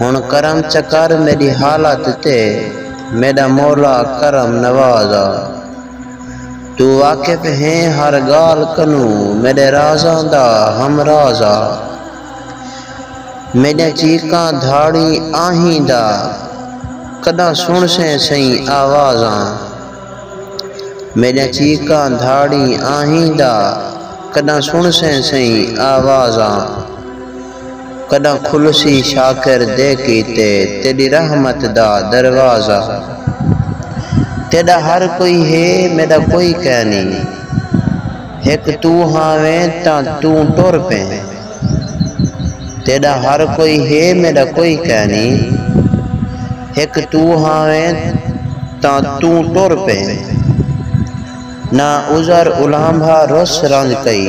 ہݨ کرم چا کر میݙی حالت تے میݙا مولا کرم نواز آ توں واقف ہیں ہر ڳالھ کنوں میݙے رازاں دا ہم راز آ میݙیاں چیکاں دھاڑیں آہیں دا کݙاں سݨسیں سئیں آواز آ میݙیاں چیکاں دھاڑیں آہیں دا کݙاں سݨسیں سئیں آواز آ۔ کݙاں کھلسی شاکر دے کیتے تیݙی رحمت دا دروازہ تیݙا ہر کوئی ہے میݙا کوئی کائنی ہک توں ہاویں تاں توں ٹر پیں تیݙا ہر کوئی ہے میݙا کوئی کائنی ہک توں ہاویں تاں توں ٹر پیں نہ عذر الانبھا رس رنج کئی۔